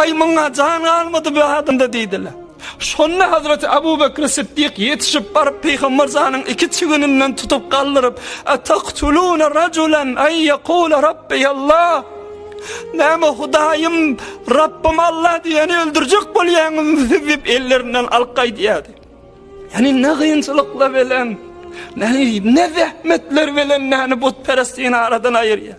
Aý, muňa jan galmady bu adamda diýdiler. Şonda Hazreti Abu Bekr Siddik ýetişip baryp Pygamber janyň iki çigininden tutup galdyryp, Ataktuluna rajulan an yaqula Rabbi Allah. Näme Hudaýym, Rabbim Allah diýeni öldürjek bolýaňyz diýip ellerinden alyp gaýdýardy. Ýani ne gynçylykla bilen, ne ne zähmetler bilen näni butperestini aradan aýyrýar.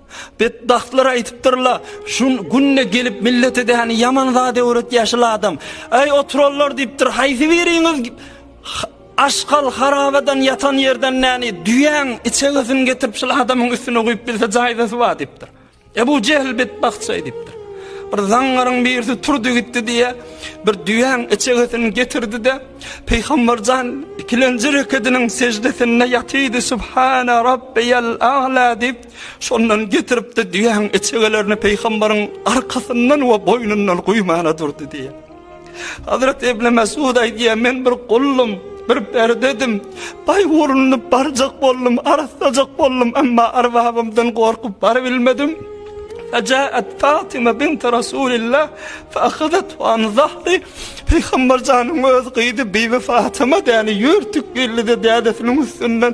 Betbagtlar aýdypdyrla, şu günde gelip millete däni ýaman zat öwretýär şul adam. Aý oturanlar diýipdir, haýsy biriňiz aşgal harabadan ýatan ýerden näni düýäň içegesini getirip şul adamyň üstüne guýup bilse jaýdasy bar diýipdir. Ebu Jehl betbagt şeý diýipdir. Bir zaňňaryň birisi turdy gitdi diýe, bir düýäň içegesini getirdi-de, Pygamberjan ikilenji rekediniň sejdesinde ýatydy, Subhana Rabbiyal A'la diýip Şondan getirip-de düýäň içegelerini peýgambaryň arkasyndan we boýnundan guýmana durdy diýýär. Hazret Ibn Mesud aýdýar, men bir gullum, bir perdedim. Baý ugruna barjak boldum, arasajak boldum, emma arbabymdan gorkup baryp bilmedim. Fajaat Fatima bint Rasulillah fa ahadat an zahri Peygamber janyň öz gyzy Bibi Fatima däni ýürtük geldi de dädesiniň üstünden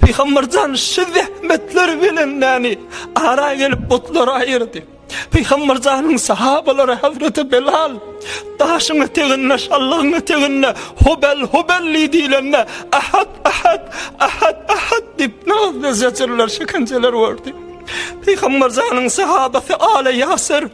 Pygamber jan şu zähmetler bilen näni ara gelip butlar aýyrdy. Pygamber janyň sahabalary Hazreti Belal daşyň eteginde şallygyň eteginde hubel hubel diýilende ahad ahad ahad ahad diýip nazly zeçirler şekençeler gördi. Pygamber janyň sahabasy Ale Ýasir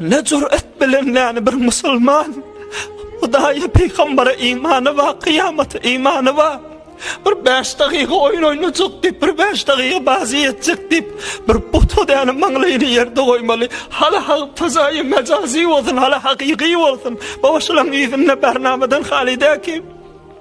Ne cüret bilen yani bir musulman Hudaýa peýgambere imany bar, kyýamata imany bar. Bir 5 dagyga oýun oýnajak diýip, bir 5 dagyga bazy etjek diýip, bir buta däne maňlaýyny ýerde goýmaly. Hala hak tazaýy mejazy bolsun, hala hakyky bolsun. Baba şulaň ýüzünde barnamadan haly däki.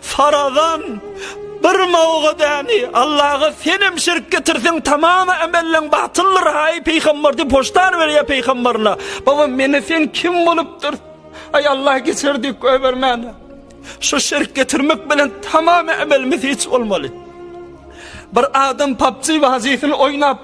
Farazan, bir mawga däni, Allaga senem şirk getirseň tamam emelleň batyldyr haý pygamber diýip hoşdar berýär pygamberine. Baba meni sen kim bolupdyr? Aý Allah geçer diýip goýbermäne. Şu şirk getirmek bilen tamam emelimiz hiç bolmaly. Bir adam PUBG wazifini oýnap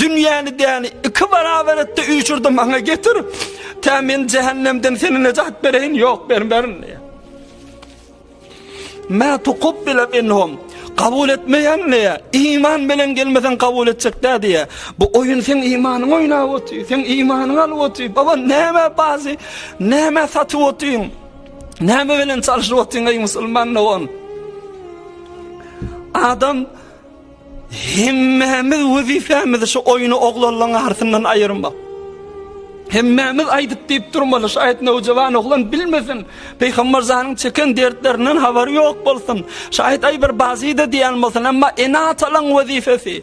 Dünýäni däni iki barabar etdi, üýşürdi, maňa getir. Tä men jähennemden seni nejat bereýin, ýok bermerin diýýär. Mä tuqbile minhum. Kabul etmeýän diýýär. Iman bilen gelmesen kabul etjek dä diýýär. Bu oýun sen imanyň oýnap otyr, sen imanyň alyp otyr. Baba näme bazy, näme satyp otyň? Näme bilen çalyşyp otyň ey musulman dogan? Adam Hemmämiz wezipämizi şu oýny oglanlaň arasyndan aýyrmak. Hemmämiz aýdyp diýip durmaly, şaýat nowjawan oglan bilmesin. Peýgamber zanyň çeken dertlerinden habary ýok bolsun. Şaýat aý bir bazyda diýen bolsun, emma ene-atalaň wezipesi.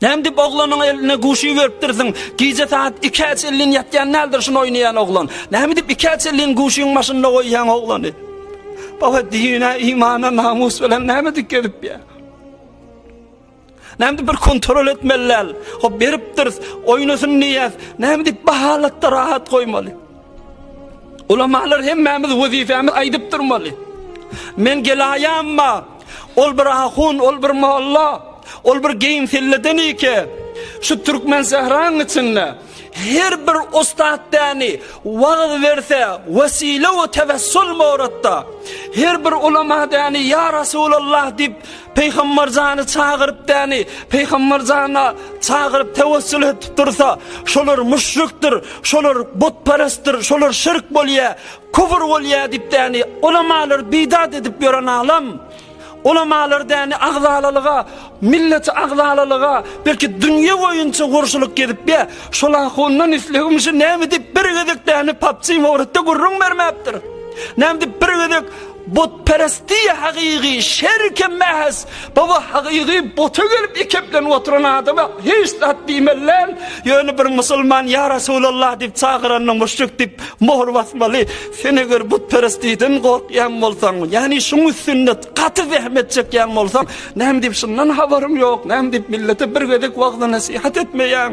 Näme diýip oglanyň eline guşy beripdirsiň? Gije sagat ikä çenlin ýatýan däldir şuny oýnaýan oglan. Näme diýip ikä çenlin guşyň başynda goýýaň oglany? Baba dine, imana, namus bilen näme dik gezip ýa? Näme bir kontrol etmeli däl. O beripdiris, oýnasyn diýýäs. Näme diýip bahalatda rahat goýmaly? Ulamalar hemmämiz wezipemiz aýdyp durmaly. Men gelaýamma, ol bir ahun, ol bir molla, ol bir geýim selleden ike. Şu türkmen sähraň içinde her bir ustad däni wagz berse, wesile we tevessul mowratda. Her bir ulama däni ya Rasulallah dip Peýgamber jany çagyryp däni, Peýgamber jana çagyryp tewessül etip dursa, şolar müşrikdir, şolar butperestdir, şolar şirk bolýa, küfür bolýa diýip däni, ulamalar bidat edip ýören alam. Ulamalar däni agzalalyga, millet agzalalyga, belki dünýe boýunça gurşulyk gezip ýa, şol ahundan islegim şu näme diýip bir gezek däni PUBG Mobile'de gürrüň bermäpdir. Näme diýip bir gezek Butperesti hakyky şerike mähes baba hakyky buta gelip ekeplenip oturan adama hiç zat diýmelän ýöne bir musulman ýa Resulallah diýip çagyranda muşrik diýip mohr basmaly sen eger butperestiden gorkýan bolsaň ýagny şuň üstünde gaty zähmet çekýän bolsaň näme diýip şundan habaryň ýok näme diýip millete bir gezek wagzy nesihat etmeýäň